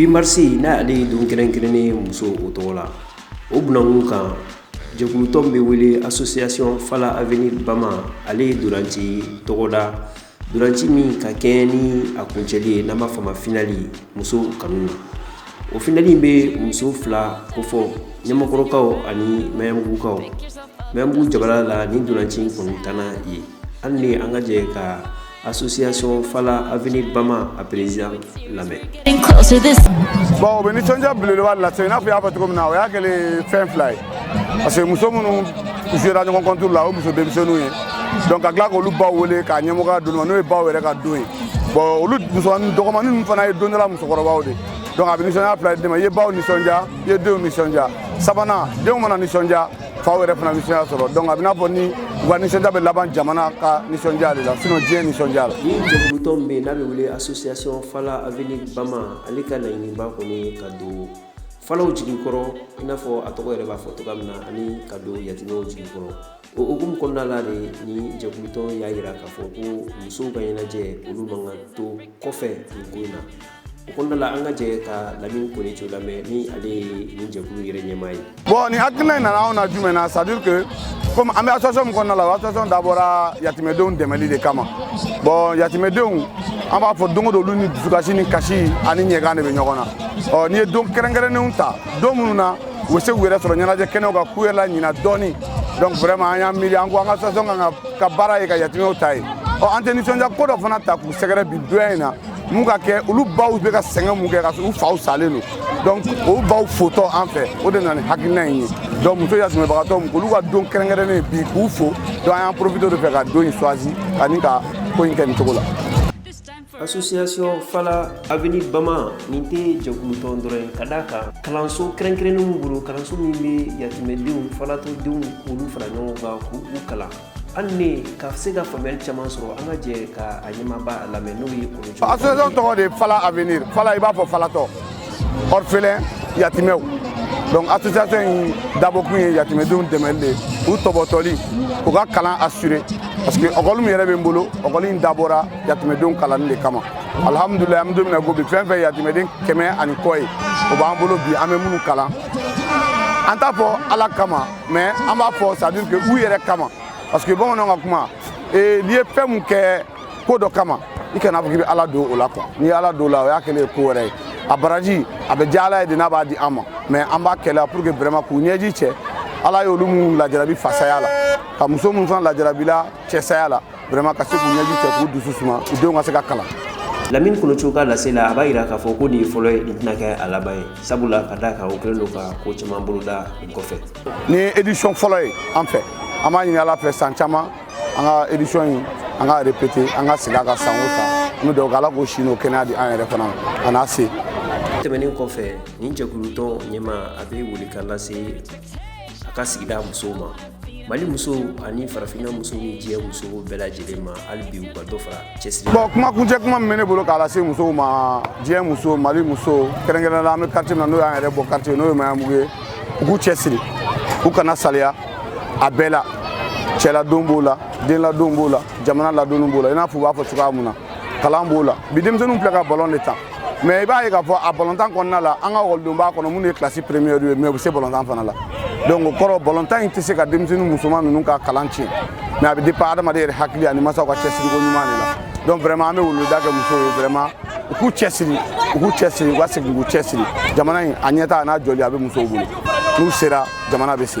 huit mars n'ale ye don kɛrɛnkɛrɛnnen ye musow tɔgɔ la o bunankun kan jɛkulutɔn bɛ wele association fala avenir bama ale ye ntolaci tɔgɔda ntolaci min ka kɛɲɛ ni a kuncɛli ye n'an b'a fɔ o ma finali musow kanu na o finali in bɛ muso fila kofɔ ɲɛmɔgɔkɔrɔkaw ani mbugukaw mɛ b'u jamana la ni ntolaci in kɔnɔntana ye hali ni an ka jɛ ka association fala avenir bama a président lamɛn bon o bɛ nisɔndiya belebeleba lase i n'a fɔ i y'a fɔ cogo min na o y'a kɛlen fɛn fila ye parce que muso minnu jouera ɲɔgɔn contre la o muso denmisɛnninw ye donc ka tila k'olu baw wele k'a ɲɛmɔgɔya d'olu ma n'o ye baw yɛrɛ ka don ye bon olu musomanin dɔgɔmanin ninnu fana ye don dɔ la musokɔrɔbaw de donc a bɛ nisɔndiya fila d'i ma i ye baw nisɔndiya i ye denw nisɔndiya sabanan denw mana nisɔndiya faw yɛrɛ fana nisɔndiya sɔrɔ donc a bɛ n'a fɔ ni u ka nisɔndiya bɛ laban jamana ka nisɔndiya de la sinon diɲɛ nisɔndiya la ni jɛkulutɔn min bɛ yen n'a bɛ wele association fala avenir bama ale ka laɲiniba kɔni ye ka don falaw jigi kɔrɔ i n'a fɔ a tɔgɔ yɛrɛ b'a fɔ cogoya min na ani ka don yatimɛw jigi kɔrɔ o hukumu kɔnɔna la de ni jɛkulutɔn y'a jira k'a fɔ ko musow ka ɲɛnajɛ olu man kan to kɔfɛ nin ko in na o kɔnɔna la an ka jɛ ka Lamini Kone Jo lamɛn ni ale ye nin jɛkulu yɛrɛ ɲɛmaa ye. Bon nin hakilina in nana anw na jumɛn na c'est à dire que comme an bɛ association min kɔnɔna la o association dabɔra yatimɛdenw dɛmɛli de kama bon yatimɛdenw an b'a fɔ don o don olu ni dusukasi ni kasi ani ɲɛgan de bɛ ɲɔgɔn na ɔ n'i ye don kɛrɛnkɛrɛnnenw ta don minnu na u bɛ se k'u yɛrɛ sɔrɔ ɲɛnajɛ kɛnɛw kan k'u yɛrɛ laɲina dɔɔni donc vraiment an y'an miiri an ko an ka association k'an ka baara ye ka yatimɛw ta ye ɔ an tɛ nisɔndiya ko dɔ fana ta k'u sɛgɛrɛ bi donya in na mun ka kɛ olu baw bɛ ka sɛgɛn mun kɛ ka u faw salen don donc o baw fotɔ an fɛ o de nana ni hakilina in ye donc muso yatimɛbagatɔ min k'olu ka don kɛrɛnkɛrɛnnen ye bi k'u fo donc an y'an profité o de fɛ ka don in choisi ani ka ko in kɛ nin cogo la association fala avenir bama nin tɛ jɛkulutɔn dɔrɔn ye ka d'a kan kalanso kɛrɛnkɛrɛnnen b'u bolo kalanso min bɛ yatimɛdenw falatɔdenw k'olu fara ɲɔgɔn kan k'u kalan hali ni ka se ka faamuyali caman sɔrɔ an ka jɛ ka a ɲɛmaaba lamɛn n'o ye Kone Jo association tɔgɔ de ye fala avenir fala i b'a fɔ falatɔ orphelin yatimɛw donc association in dabɔkun ye yatimɛdenw dɛmɛli de ye u tɔpɔtɔli u ka kalan assurer parce que ekɔli min yɛrɛ bɛ n bolo ekɔli in dabɔra yatimɛdenw kalanni de kama alhamdulilayi an bɛ don min na ko bi fɛn fɛn yatimɛden kɛmɛ ani kɔ ye o b'an bolo bi an bɛ minnu kalan an t'a fɔ ala kama mais an b'a fɔ c'est à dire que u yɛrɛ kama parce que bamananw ka kuma eh, n'i ye fɛn mun kɛ ko dɔ kama i kana fɔ k'i bɛ ala don o la quoi n'i ye ala don o la o y'a kɛlen ye ko wɛrɛ ye a baraji a bɛ diya ala ye de n'a b'a di an ma mais an b'a kɛ la pour que vraiment k'u ɲɛji cɛ ala y'olu minnu lajarabi fasaya la ka muso minnu fana lajarabila cɛsaya la vraiment ka se k'u ɲɛji cɛ k'u dusu suma u denw ka se ka kalan lamini kolocogo ka lase la a b'a yira k'a fɔ ko nin ye fɔlɔ ye nin tɛna kɛ a laban ye sabula ka d'a kan o kɛlen don ka ko caman boloda nin kɔfɛ nin ye édition fɔlɔ ye an fɛ an b'a ɲini ala fɛ san caman an ka édition in an ka répéter an ka segin a kan san o san an bɛ dugawu kɛ ala k'o si n'o kɛnɛya di an yɛrɛ fana ma a n'a se tɛmɛnen kɔfɛ nin jɛkulutɔn ɲɛmaa a bɛ welekan lase a ka sigida musow ma mali muso ani farafinna muso ni diɲɛ muso bɛɛ lajɛlen ma hali bi u ka dɔ fara cɛsiri bon kuma kuncɛ kuma min bɛ ne bolo k'a lase musow ma diɲɛ muso mali muso kɛrɛnkɛrɛnnenya la an bɛ quartier min na n'o y'an yɛrɛ bɔ quartier n'o ye maɲanbugu ye u k'u cɛsiri u kana saliya a bɛɛ la cɛladon b'o la denladon b'o la jamana ladonni b'o la i n'a fɔ u b'a fɔ cogoya min na kalan b'o la bi denmisɛnninw filɛ ka balon de tan mais i b'a ye k'a fɔ a balontan kɔnɔna la an ka ekɔlidenw b'a kɔnɔ minnu ye classe première ye mais u bɛ se balontan fana la donc o kɔrɔ balontan in tɛ se ka denmisɛnnin musoman ninnu ka kalan tiɲɛ mais a bɛ dépend adamaden yɛrɛ hakili ani masaw ka cɛsiriko ɲuman de la donc vraiment an bɛ weleweleda kɛ musow ye vraiment u k'u cɛsiri u k'u cɛsiri u ka segin k'u cɛsiri jamana in a ɲɛta a n'a jɔli a bɛ musow bolo n'u sera jamana bɛ se